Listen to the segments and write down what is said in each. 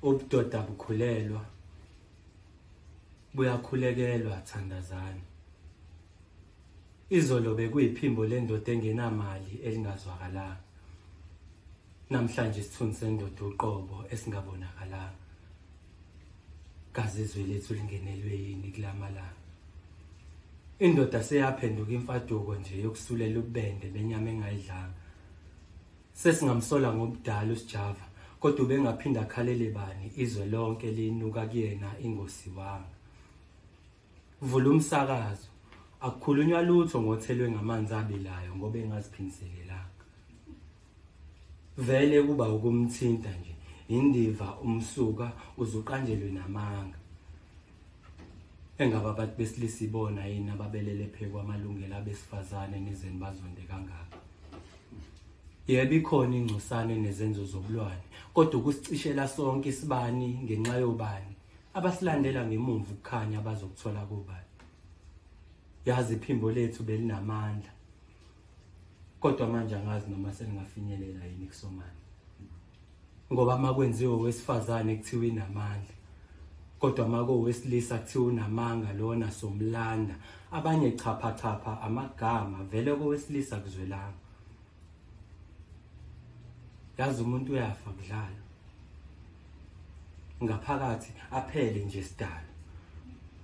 ubudoda bukhulelwa buyakhulekelwa thandazani izolo bekuyiphimbo lendoda engenamali elingazwakalanga namhlanje isithunzi sendoda uqobo esingabonakalanga kazi izwi lethu lingenelwe yini kulamalanga indoda seyaphenduka imfaduko nje yokusulela ubende benyama engayidlanga Sesingamsola ngobudala uSjava kodwa ubengaphinda akhalele bani izwe lonke linuka kuyena ingosi wanga. Vula umsakazo. Akukhulunywa lutho ngothelwe ngamanzi abilayo ngoba engaziphindiselelanga. Vele kuba ukumthinta nje indiva umsuka uzuqanjelwe namanga. Engaba abantu besilisa ibona yini ababelele phekwa amalungelo abesifazane nizeni bazonde kangaka. Yebo ikhona ingcosane nezenzo zobulwane, kodwa ukusicishela sonke isibani ngenxa yobani abasilandela ngemuva ukukhanya abazokuthola kobani. Yazi iphimbo lethu belinamandla. Kodwa manje angazi noma selingafinyelela yini kusomana. ngoba uma kwenziwe owesifazane kuthiwa inamandla kodwa uma kowesilisa kuthiwa unamanga lona somlanda abanye chaphachapha amagama vele kowesilisa kuzwelanga yazi umuntu uyafa kudlala ngaphakathi aphele nje sidalo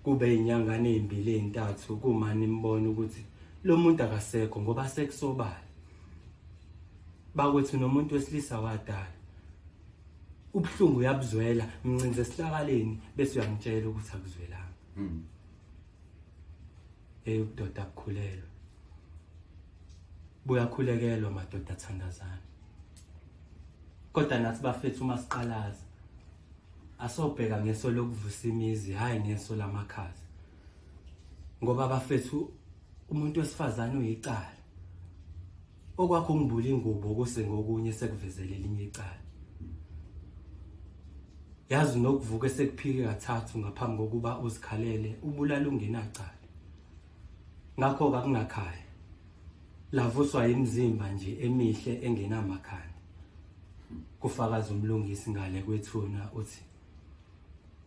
kube inyangane ezimbili ezintathu kumani imbona ukuthi lo muntu akasekho ngoba sekusobala bakwethu nomuntu wesilisa wadala ubuhlungu uyabuzwela mncinze esihlakaleni bese uyamtshela ukuthi akuzwelanga mm. hey ubudoda akukhulelwe buyakhulekelwa madoda athandazana kodwa nathi bafethu uma siqalaza asobheka ngeso lokuvusa imizi hhayi ngeso lamakhaza ngoba bafethu umuntu wesifazane uyicala okwakho ngibula ingubo kuse ngokunye sekuvezele elinye icala yazi nokuvuka sekuphike kathathu ngaphambi kokuba uzikhalele ubulala ungenacala ngakho kakungakhaya lavuswa imizimba nje emihle engenamakhanda kufakaza umlungisi ngale kwethuna uthi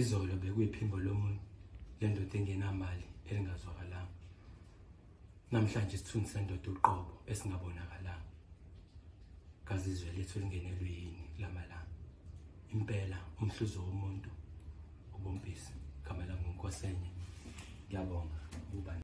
izolo bekuyiphimbo lomuntu lendoda engenamali elingazwakalanga namhlanje isithunzi sendoda uqobo esingabonakalanga kazi izwe lethu lingenelwe yini lamalanga impela umhluzo womuntu ubumpisi gama langunkosenye ngiyabonga ukuba